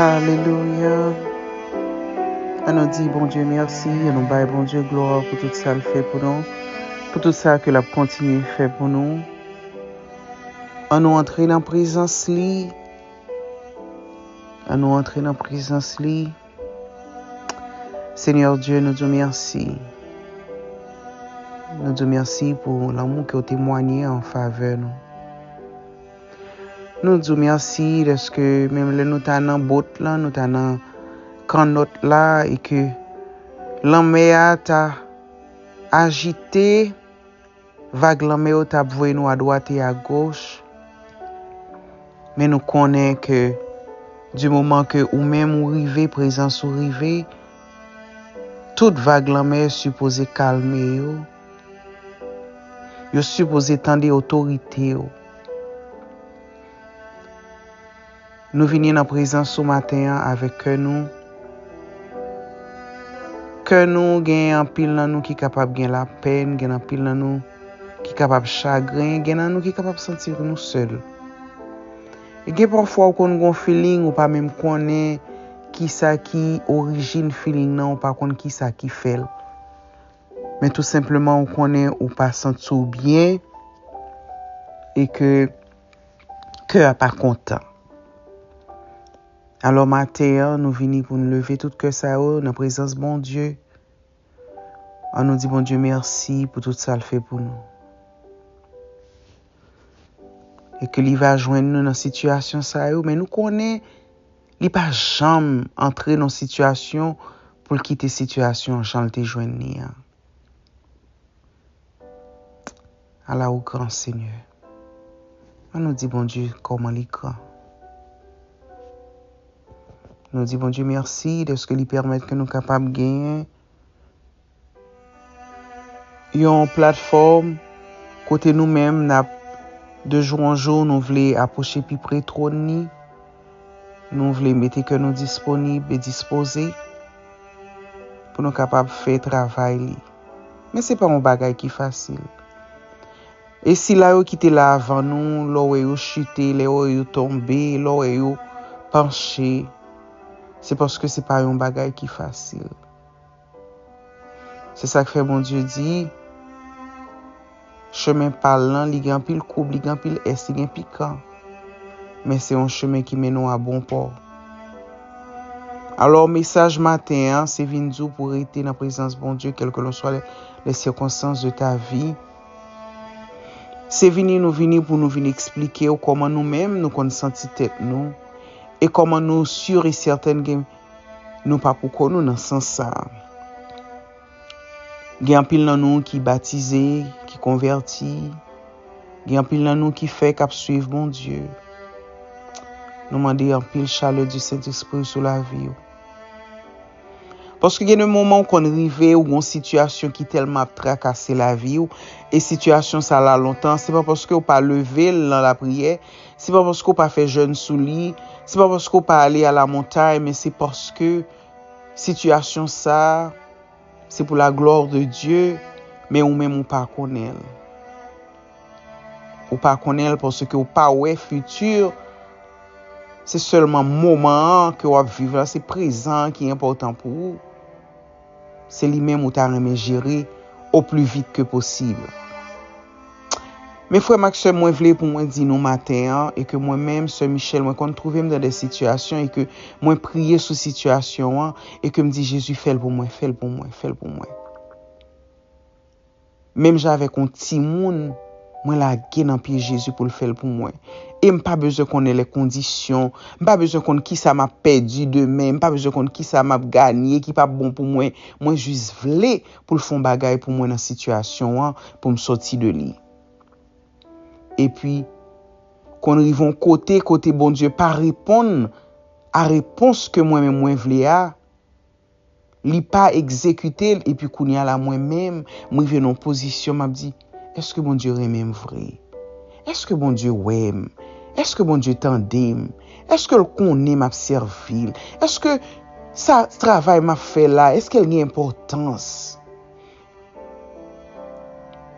Alelouya An nou di Bondye mèsi An nou bay Bondye glwa pou tout sa l fè pou nou Pou tout sa ke l ap kontinye fè pou nou An nou antre nan prezans li An nou antre nan prezans li Seigneur Dieu nou diw merci nou diw merci pou lanmou ke ou temwanye an favè nou nou diw merci deske menm lè nou ta nan bot lan nou ta nan kannòt la e ke lanmè a ta ajite Vag lanmè yo tap voye nou a dwat e a goch, men nou konnen ke di moman ke ou menm ou rive, prezans ou rive, tout vag lanmè sipoze kalme yo, yo sipoze tande otorite yo. Nou vini nan prezans ou maten an avèk kè nou kè nou gen anpil nan nou ki kapab gen lapèn gen anpil nan nou ki kapab chagren gen nan nou ki kapab santi nou sèl e gen pafwa ou konn gon filing ou pa menm konnen kisa ki orijin filing nan ou pa konn kisa ki fèl men tou senpleman ou konnen ou pa santi w byen e ke. kè a pa kontan. Alò maten an nou vini pou nou leve tout kè sa yo nan prezans Bondye. An nou di Bondye mèsi pou tout sa l fè pou nou. E ke li va jwenn nou nan sitiyasyon sa yo, men nou konnen li pa janm antre nan sitiyasyon pou l kite sitiyasyon jan l te jwenn ni an. Ala ou gran Senyè. An nou di Bondye kòman li gran. Nou di Bondye mèsi dèske li pèmèt ke nou kapab genyen yon platfòm kote nou menm nap de jou an jou nou vle apwoche pi pre twòn ni. Nou vle mete kè nou disponib e dispoze pou nou kapab fè travay li. Men se pa yon bagay ki fasil. E sila yo ki te la avan nou, lè w wè yo chite, lè w wè yo tonbe, lè w wè yo panche, se paske se pa yon bagay ki fasil. Se sa k fè Bondye di, Chemen pa l lan, li gen anpil koub, li gen anpil ès, li gen pikan, men se yon chemen ki mennen w a bon pò. Alò, mesaj maten an, se vin di w pou w rete nan prezans Bondye kèlkelanswa lèsikonstans de ta vi. Se vini nou vini pou nou vin eksplike w kòman nou menm nou konn santi tèt nou e kòman nou si e sètèn gen. Nou pa pou kò nou nan sans sa a. Gen anpil nan nou ki batize, ki konvèti. Gen anpil nan nou ki fè kap suiv Bondye. Nou mande anpil chalè di Sentespri ou sou lavi ou. Paske gen de moman ou konn rive ou gon sitiyasyon ki tèlman ap trakase lavi ou, e sitiyasyon sa la lontan, se pa paske ou pa leve l nan lapriyè, Se pa paske w pa fè jèn sou li, se pa paske w pa ale alamontay men se paske sitiyasyon sa a se pou laglwa de Dye men ou menm ou pa konnen l. Ou pa konnen l paske w pa wè fiti, se sèlman moman an ke w ap viv la, se prezan an ki enpòtan pou ou. se li menm ou ta renmen jere o pli vit ke posib. Men frè m ak sè m mwen vle pou mwen di nou maten an e ke mwen menm sè Michèle mwen konn twouve m nan de sitiyasyon e ke mwen priye sou sitiyasyon an e ke m di Jezi fè l pou mwen, fè l pou mwen, fè l pou mwen. Menm jan avèk yon timoun, mwen lage nan pye Jezi pou l fè l pou mwen. E m pa bezwen konnen lè kondisyon, m pa bezwen konn kisa m ap pèdi demen, m pa bezwen konn kisa m ap ganye ki p ap bon pou mwen, mwen jis vle pou l fè yon bagay pou mwen nan sitiyasyon an pou m sòti de li. Epi, konn rive yon kote kote Bondye pa reponn a repons ke mwen menm mwen vle a, li pa egzekite l epi kounye a la mwen menm m rive nan yon pozisyon m ap di èske Bondye renmen m vre? Èske Bondye wè m? Èske Bondye tande m? Èske l konnen m ap sèvi l? Èske sa travay m ap fè la èske l gen enpòtans?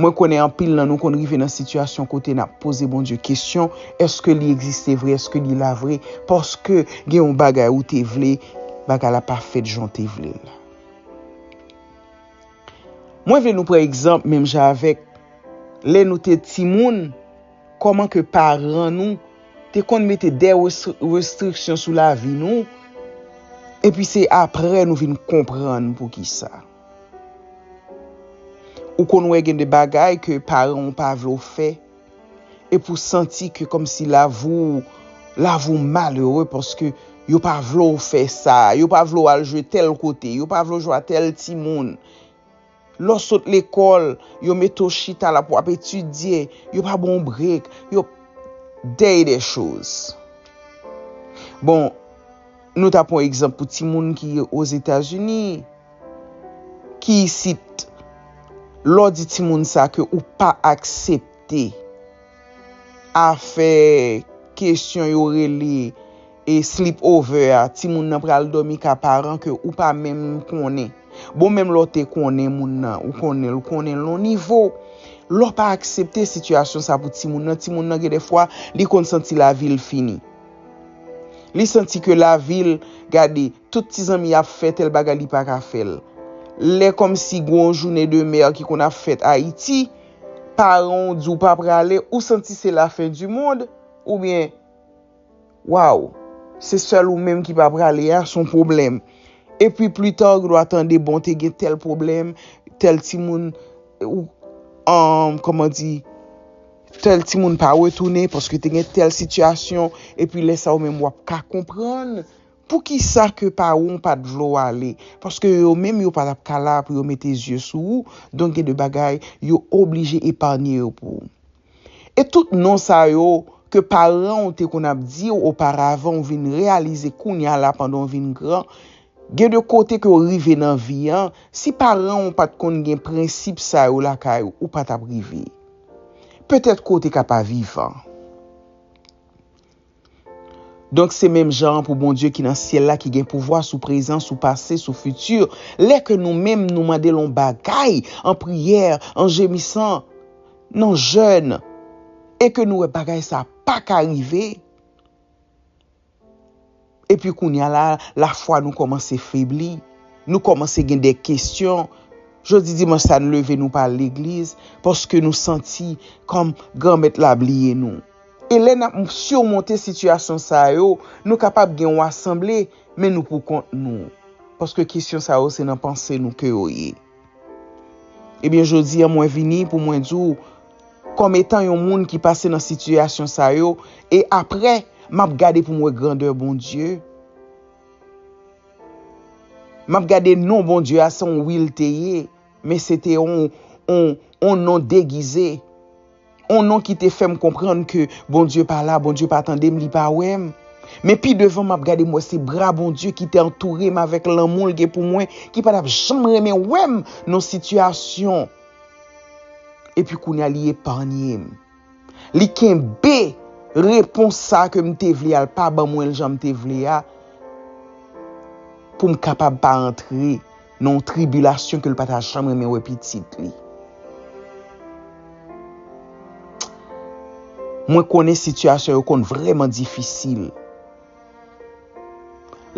Mwen konnen anpil nan nou konn rive nan sitiyasyon kote n ap poze Bondye kesyon, èske li egziste vre, èske li la vre, paske gen yon bagay ou te vle, bagay la pa fèt jan w te vle l la. Mwen vle nou pran egzanp menm jan avèk lè nou te timoun, kòman ke paran nou te konn mete dè restriksyon sou lavi nou, epi se aprè nou vin konprann poukisa. Ou konn wè gen de bagay ke paran ou pa vle w fè, epi w santi ke kòmsi lavi w, lavi w malere paske yo pa vle w fè sa, yo pa vle w al jwe tèl kote, yo pa vle w jwe a tèl timoun. Lè w sot lekòl, yo mete w chita la pou w ap etidye, yo pa ban w brek, yo. Dey de choz. Bon, nou ta pran egzanp pou timoun ki Ozetazini. ki isit lè w di timoun sa ke ou pa aksepte afè kesyon yo rele e sleep over a timoun nan pral dòmi ka paran ke ou pa menm konnen bon menm lè w te konnen moun nan ou konnen l ou konnen l yon nivo lè w pa aksepte sitiyasyon sa pou timoun nan timoun nan gen dè fwa li konn santi lavi l fini. Li santi ke lavi l, gade, tout ti zanmi y ap fè tèl bagay li pa ka fè l. Lè kòmsi gwo yon jounen de mè ki konn ap fèt Ayiti, paran w di w pa prale, ou santi se lafen di mond, oubyen, Waw, se sèl ou menm ki pa prale a, s on pwoblèm. Epi plita w gen dwa tande, bon, te gen tèl pwoblèm, tèl timoun, ou, kòman di? Tèl timoun pa retounen paske te gen tèl sitiyasyon epi lè sa ou menm wap ka konprann poukisa ke paran w pat vle w ale paske yo menm yo pa tap ka la pou yo mete zye sou ou donk gen de bagay yo oblije epanye yo pou ou. E tout non sa yo ke paran w te konn ap di w oparavan ou vin reyalize kounya la pandan w vin gran gen de kote ke w rive nan vi an si paran w pat konn gen prensip sa yo lakay ou ou pa tap rive. Petèt kou w te ka pa vivan. Donk se menm jan an pou Bondye ki nan syèl la ki gen pouvwa sou prezan, sou pase, sou fiti, lè ke nou menm nou mande l yon bagay an priyè, an jemisan, nan jèn, e ke nou wè bagay sa a pa ka rive, Epi kounye a la, lafwa nou kòmanse febli. Nou kòmanse gen de kesyon. Jodi dimanch sa a, nou leve nou pa al legliz paske nou santi kòm Granmèt la bliye nou. E lè n ap simonte sitiyasyon sa yo, nou kapab gen yon asanble, men nou poukont nou. Paske kesyon sa yo se nan panse nou ke yo ye. Ebyen jodi an mwen vini pou mwen di w kòm etan yon moun ki pase nan sitiyasyon sa yo e aprè m ap gade pou m wè grandè Bondye, m ap gade non Bondye a se yon wi l te ye men se te yon non degize. On non ki te fè m konprann ke Bondye pa la, Bondye pa tande m, li pa wè m. Men pi devan m ap gade m wè se bra Bondye ki te antoure m avèk lanmou l gen pou mwen ki pa t ap janm renmen wè m nan sitiyasyon. Epi kounye a li epanye m. Li kenbe repons sa a ke m te vle a, l pa ban mwen l jan m te vle a pou m kapab pa antre. Nan yon tribilasyon ke l pa ta janm renmen wè pitit li. Mwen konnen sitiyasyon yo konn vreman difisil.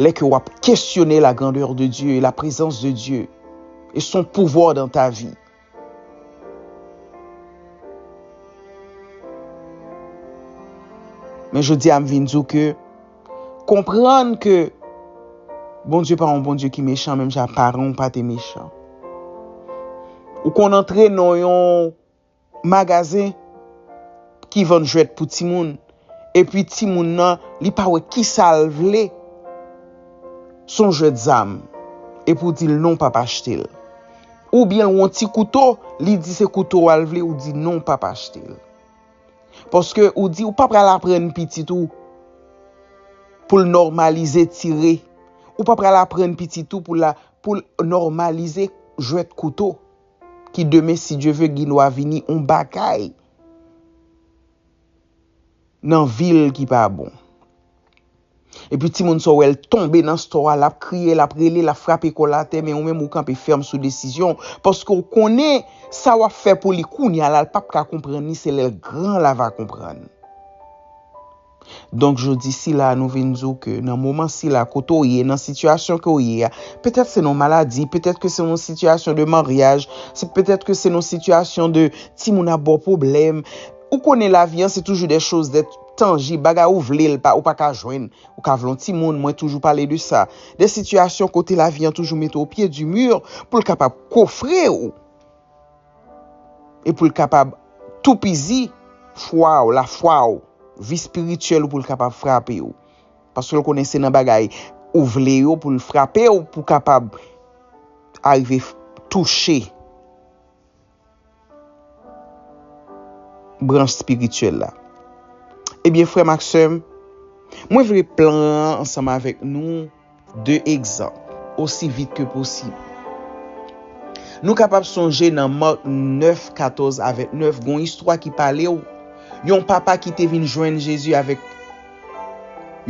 Lè ke w ap kesyone la grandeur de Dieu, la prezans de Dieu. E son pouvwa dan ta vi. Men jodi a m vin di w ke konprann ke Bondye pa yon Bondye ki mechan menm jan paran w pa te mechan. Ou konn antre nan yon magazen ki vann jwèt pou timoun epi timoun nan li pa wè ki sa l vle, s on jwèt zam epi w di l non w pap achte l. Ou byen l won ti kouto li di se kouto wa l vle ou di non w pap achte l. Paske ou di ou pa pral aprann pitit ou pou l nòmalize tire. Ou pa pral aprann pitit ou pou la pou l nòmalize jwèt kouto. Ki demen si Dye ve gin wa vini on bagay nan vi l ki pa bon. Epi timoun sa w wè l tonbe nan store a, l ap kriye, l ap rele, l ap frape kò l atè, men ou menm ou kanpe fèm sou desizyon w, paske w konnen sa w ap fè pou li kounya la l pap ka konprann li, se lè l gran la va konprann. Donk jodi sila a nou vin di w ke nan moman sila kote w ye, nan sitiyasyon ke w ye a, petèt se nan yon maladi, petèt ke se nan yon sitiyasyon de maryaj, petèt ke se nan yon sitiyasyon de timoun ap ba w pwoblèm, Ou konnen lavi an se toujou des choses des tangibles, bagay ou vle l pa, ou pa ka jwenn. Ou ka vle yon timoun, mwen toujou pale de sa. Des situations kote lavi an toujou mete w au pied du mur pou l kapab kofre ou e pou l kapab toupizi fwa ou, lafwa ou, vi spirituel ou pou l kapab frape ou. Paske l konnen se nan bagay ou vle yo pou l frape ou pou kapab arive touche. branch spirityèl la. Ebyen frè m ak sè m, mwen vle pran ansanm avèk nou 2 egzanp osi vit ke posib. Nou kapab sonje nan Marc 9, 14 a 29 gon istwa ki pale w yon papa ki te vin jwenn Jezi avèk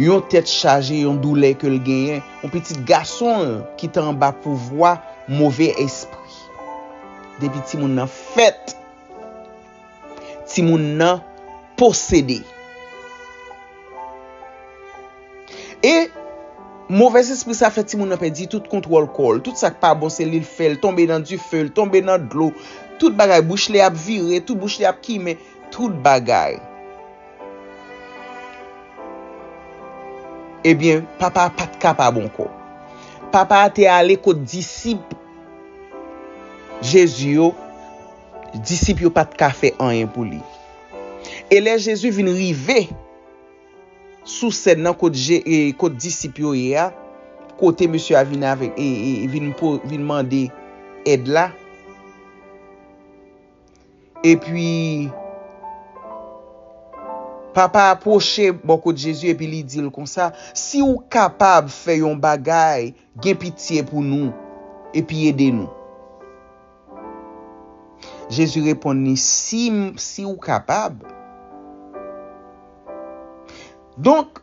yon tèt chaje yon doulè ke l genyen, yon pitit gason l ki te anba pouvwa move espri. Depi timoun nan fèt, timoun nan posede. E movèzespri sa fè timoun nan pèdi tout kontwòl kò l. Tout sa k pa bon se li l fè l. Tonbe nan dife l, tonbe nan dlo. Tout bagay. Bouch li ap vire, tout bouch li ap kimen. Tout bagay. Ebyen, papa a pa t ka pa bon kò. Papa a te ale kot disip. Jezi yo, disip yo pa t ka fè anyen pou li. E lè Jezi vin rive sou sèn nan kot disip yo ye a, kote mesye a vin mande èd la, epi papa a pwoche bò kot Jezi epi li di l konsa, Si w kapab fè yon bagay, Gen pitye pou nou, epi ede nou. Jezi reponn li, Si m, si ou kapab. Donk,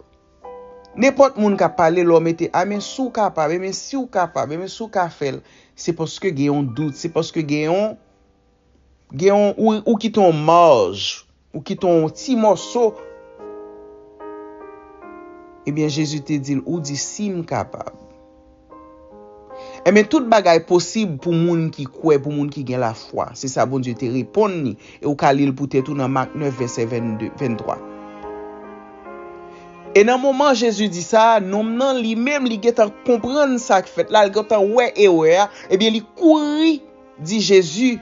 nenpòt moun k ap pale, lè w mete, Amen, si w kapab, amen, si ou kapab, amen, si ou ka fè l, se paske gen yon dout, se paske gen yon. gen yon, ou kite yon marj, ou kite yon ti mòso. Ebyen Jezi te di l, ou di si m kapab. Ebyen tout bagay posib pou moun ki kwè, pou moun ki gen lafwa. Se sa Bondye te reponn li, e ou ka li l pou tèt ou nan Mak 9 vèsè 22, 23. E nan moman Jezi di sa, nonm nan li menm li gentan konprann sa k fèt la, li gentan wè erè a, ebyen li kouri. Di Jezi,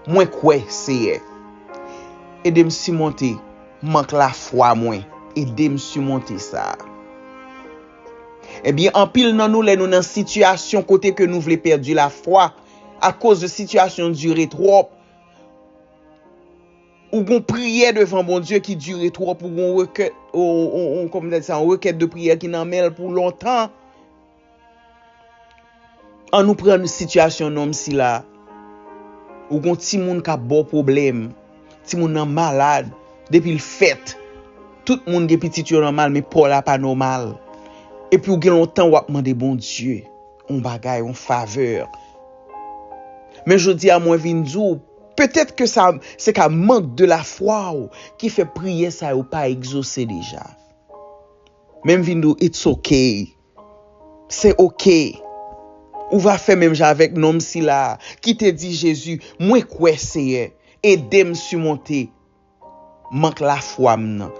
Mwen kwè, Seyè. Ede m simonte mank lafwa mwen. Ede m simonte sa. Ebyen, anpil nan nou lè nou nan sitiyasyon kote ke nou vle pèdi lafwa akoz de sitiyasyon dire twòp, ou gon priyè devan Bondye ki dire twòp, ou gon rekèt, yon rekèt de priyè ki nan men l pou lontan. An nou pran sitiyasyon nonm sila. Ou gon timoun kap baw pwoblèm. Timoun nan malad. Depil fèt. Tout moun gen pitit yo nòmal men paw la pa nòmal. Epi ou gen lontan wap mande Bondye yon bagay, yon favè. Men jodi a mwen vin diw, petèt ke sa se ka mank de lafwa ou ki fè priyè sa yo pa egzose deja. Men m vin diw it's ok. Se ok. Ou va fè menm jan avèk nonm sila a ki te di Jezi, Mwen kwè, Seyè, ede m simonte mank lafwa m nan.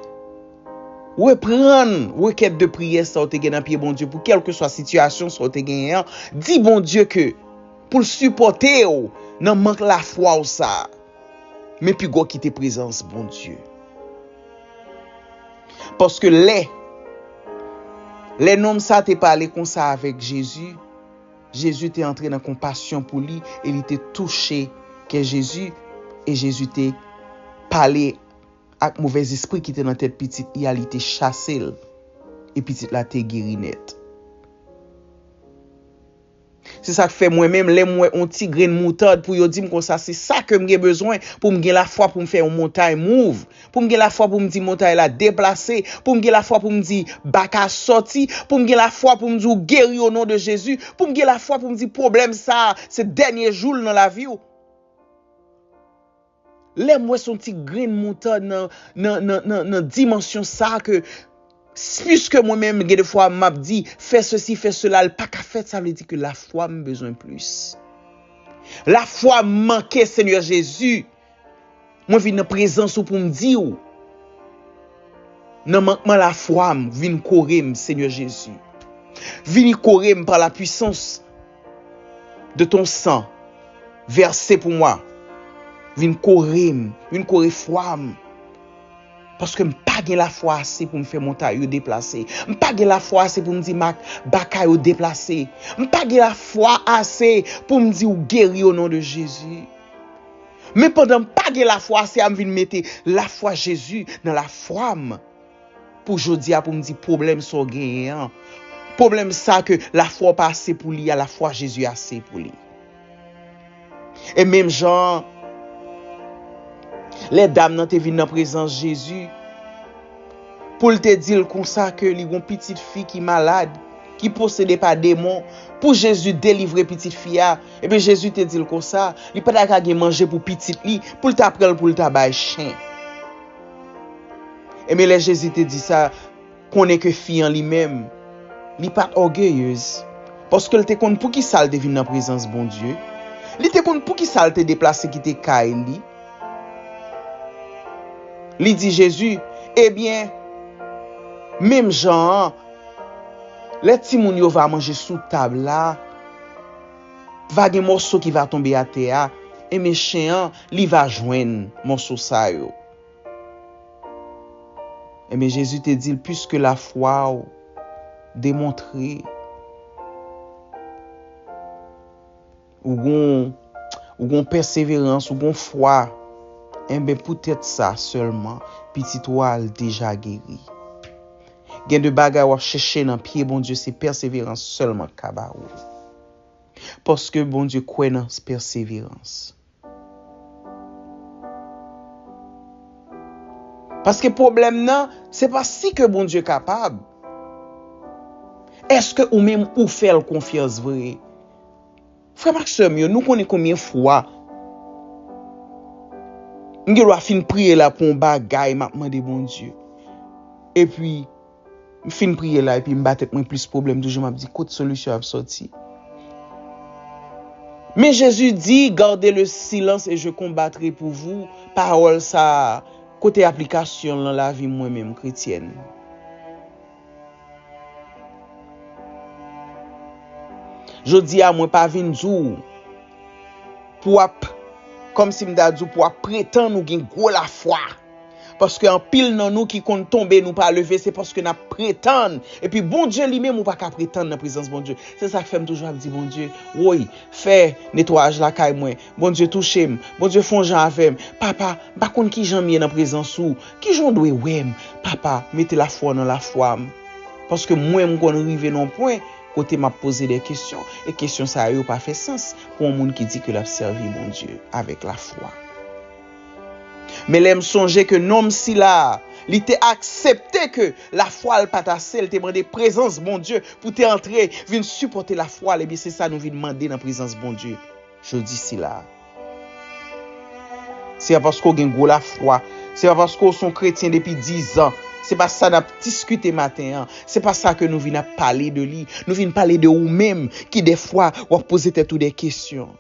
Reprann rekèt de priyè sa w te gen nan pye Bondye pou kèlkeswa sitiyasyon sa w te genyen an. Di Bondye ke pou l sipòte w nan mank lafwa w sa a. Men pi gwo kite prezans Bondye. Paske lè, lè nonm sa te pale konsa avèk Jezi, Jezi te antre nan konpasyon pou li e li te touche kè Jezi, e Jezi te pale ak movèzespri ki te nan tèt pitit li a, li te chase l, e pitit la te geri nèt. Se sa k fè mwen menm, lè m wè yon ti grenn moutad, pou yo di m konsa, se sa ke m gen bezwen pou m gen lafwa pou m fè yon montay move, pou m gen lafwa pou m di montay la deplase, pou m gen lafwa pou m di baka sòti, pou m gen lafwa pou m di ou geri o non de Jezi, pou m gen lafwa pou m di pwoblèm sa a se dènye jou l nan lavi ou. Lèm wè son ti grenn moutad nan nan nan nan nan dimansyon sa ke puiske mwen menm gen de fwa map di fè sesi fè sela l paka fèt sa vle di ke lafwa m bezwen plis lafwa m manke Senyè Jezi mwen vin nan prezans ou pou m di w nan mankman lafwa m vin kore m Senyè Jezi vini kore m pa la puisans de ton sang verse pou mwen vin korem, vin kore fwam paske m pa gen lafwa ase pou m fè montay yo deplase, m pa gen lafwa ase pou m di ma baka yo deplase, m pa gen lafwa ase pou m di ou geri o non de Jezi. Men pandan m pa gen lafwa ase a m vin mete lafwa Jezi nan lafwam. Pou jodi a pou m di pwoblèm sa w genyen an, pwoblèm sa ke lafwa w pa ase pou li a, lafwa Jezi ase pou li. E menm jan an, lè dam nan te vin nan prezans Jezi, pou l te di l konsa ke li gon pitit fi ki malad, ki posede pa demon, pou Jezi delivre pitit fi a, ebyen Jezi te di l konsa, li pa ta ka gen manje pou pitit li, pou l ta pran l pou l ta bay chen. Ebyen lè Jezi te di sa, konnen ke fi an li menm, li pa t ògeyez, paske l te konn poukisa l te vin nan prezans Bondye, li te konn poukisa l te deplase kite kay li, li di Jezi, Ebyen, menm jan an, lè timoun yo va manje sou tab la, Va gen mòso ki va tonbe atè a, e mechen an, li va jwenn mòso sa yo. Enben, Jezi te di l, Piske lafwa w demontre ou gen pèseverans, ou gen fwa, enben poutèt sa sèlman, pitit ou a al deja geri. Gen de bagay wap chèche nan pye Bondye se pèseverans sèlman k ka ba ou l. Paske Bondye kwè nan pèseverans. Paske pwoblèm nan se pa si ke Bondye kapab, èske ou menm ou fè l konfyans vre? Frè m ak sè m yo, nou konnen konbyen fwa m gen dwa fin priye la pou yon bagay m ap mande Bondye, epi m fin priye la epi m ba tèt mwen plis pwoblèm toujou m ap di kot solisyon an ap sòti. Men Jezi di, Gardez le silence et je combattrai pour vous, pawòl sa a, kote aplikasyon l nan lavi m mwen menm, kretyèn? Jodi a mwen pa vin di w pou w ap, kòm si m ta di w pou w ap pretann ou gen gwo lafwa. Paske anpil nan nou ki konn tonbe nou pa leve se paske n ap pretann. Epi Bondye li menm ou pa ka pretann nan prezans Bondye. Se sa k fè m toujou ap di Bondye, woy fè netwayaj lakay mwen. Bondye touche m, Bondye fon jan avè m, papa, m pa konn kijan m ye nan prezans ou, kijan w dwe wè m, papa, mete lafwa w nan lafwa m, paske mwen m konn rive nan yon pwen kote m ap poze dè kesyon, e kesyon sa yo pa fè sans pou yon moun ki di ke l ap sèvi Bondye avèk lafwa. Men lè m sonje ke nonm sila a, li te aksepte ke lafwa l pa t ase, l te mande prezans Bondye pou te antre, vin sipòte lafwa l, ebyen se sa nou vin mande nan prezans Bondye. jodi sila a. Se pa paske w gen gwo lafwa, se pa paske w se yon kretyen depi dizan, se pa sa n ap diskite maten an, se pa sa ke nou vin ap pale de li, nou vin pale de ou menm ki dèfwa w ap poze tèt ou de kesyon.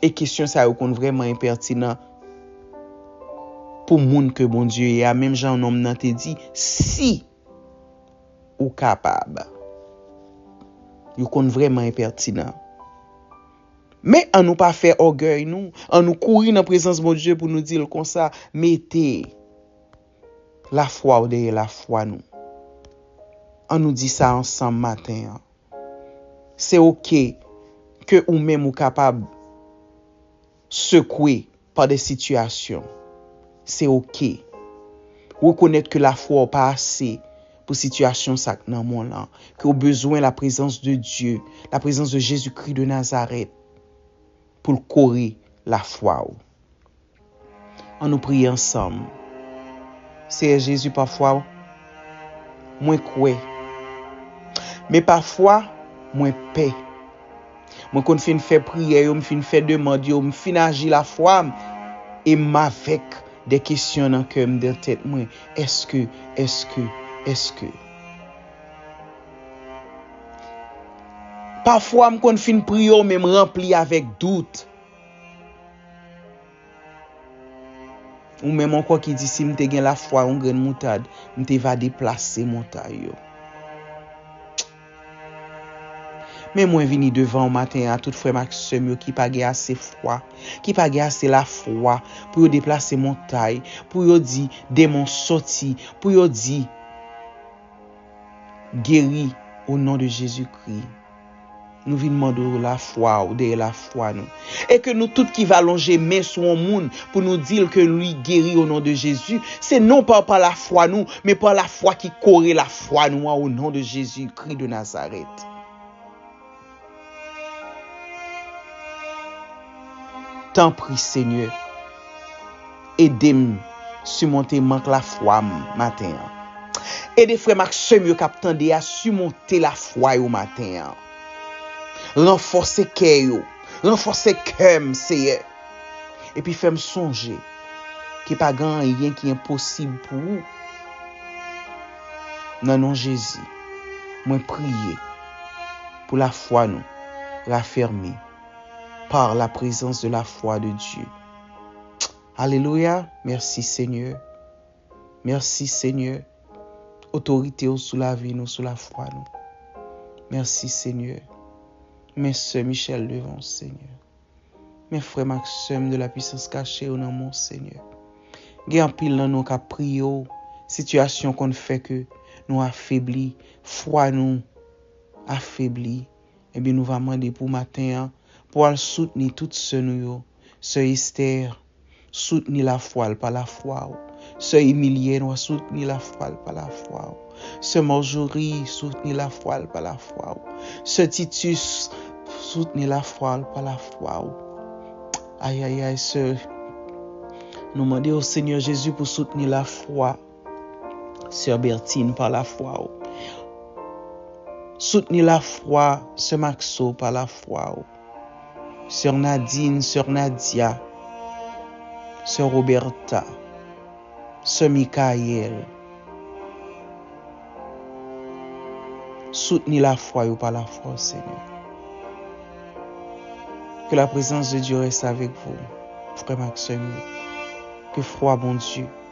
E kesyon sa yo konn vrèman enpètinan pou moun ke Bondye ye a, menm jan nonm nan te di, si! Ou kapab. Yo konn vrèman enpètinan. Men an nou pa fè ògèy nou, an nou kouri nan prezans Bondye pou nou di l konsa, Mete lafwa w dèyè lafwa nou. An nou di sa ansanm maten an. Se oke ke ou menm ou kapab sekwe. Pa de sitiyasyon. Se ok. Rekonèt ke lafwa w pa ase pou sitiyasyon sa k nan mond lan, ke w bezwen laprezans de Dye, laprezans de Jezikri de Nazarèt pou l kore lafwa w. An nou priye ansanm, Seyè Jezi, pafwa mwen kwè, men pafwa mwen pè. Mwen konn fin fè priyè yo, m fin fè demand yo, m fin aji lafwa m, e m avèk de kesyon nan kè m, nan tèt mwen, Èske, èske, èske. Pafwa m konn fin priye w men m ranpli avèk dout. Ou menm ankò ki di si m te gen lafwa yon grenn moutad, m te va deplase montay yo. Men mwen vini devan ou maten a, tout frè m ak sè m yo ki pa gen ase fwa, ki pa gen ase lafwa pou yo deplase montay, pou yo di, Denmon soti, pou yo di, Geri, o non de Jezikri. Nou vin mande w lafwa w dèyè lafwa nou. E ke nou tout ki va lonje men sou yon moun pou nou di l ke li geri o non de Jezi, se non pa pa lafwa nou, men pa lafwa ki kore lafwa nou an o non de Jezi Kri de Nazarèt. Tanpri, Senyè. Edem simonte mank lafwam maten an. Ede frèm ak sem yo kap tande a simonte lafwa yo maten an. Ranfòse kè yo, ranfòse kèm Seyè. Epi fèm sonje ke pa gen anyen ki enposib pou ou. Nan non Jezi mwen priye pou lafwa nou rafèmi par la prezans de lafwa de Dye. Alelouya mèsi senyè mèsi senyè otorite ou sou lavi nou sou lafwa nou mèsi senyè men sè Michelle devan ou senyè men frèm ak sèm de la pwisans kache yo nan men ou senyè gen anpil nan nou kap priye ou sitiyasyon konn fè ke nou afebli fwa nou afebli Ebyen nou va mande pou maten an pou al soutni tout sè nou yo, sè Esther soutni lafwa l pa lafwa w, sè Emilienne wa soutni lafwa l pa lafwa w, sè Marjorie soutni lafwa l pa lafwa w, sè Titus soutni lafwa l pa lafwa w ayayay sè nou mande w Senyè Jezi pou soutni lafwa. Sè Bertine par la fwa ou Soutni la fwa sè Maxo par la fwa ou Sè Nadine sè Nadia Sè Roberta Sè Michael Soutni la fwa yo par la fwa ou Senyè Ke la prezans de Dye rès avèk vou frèm ak sèm yo Ke fwa Bondye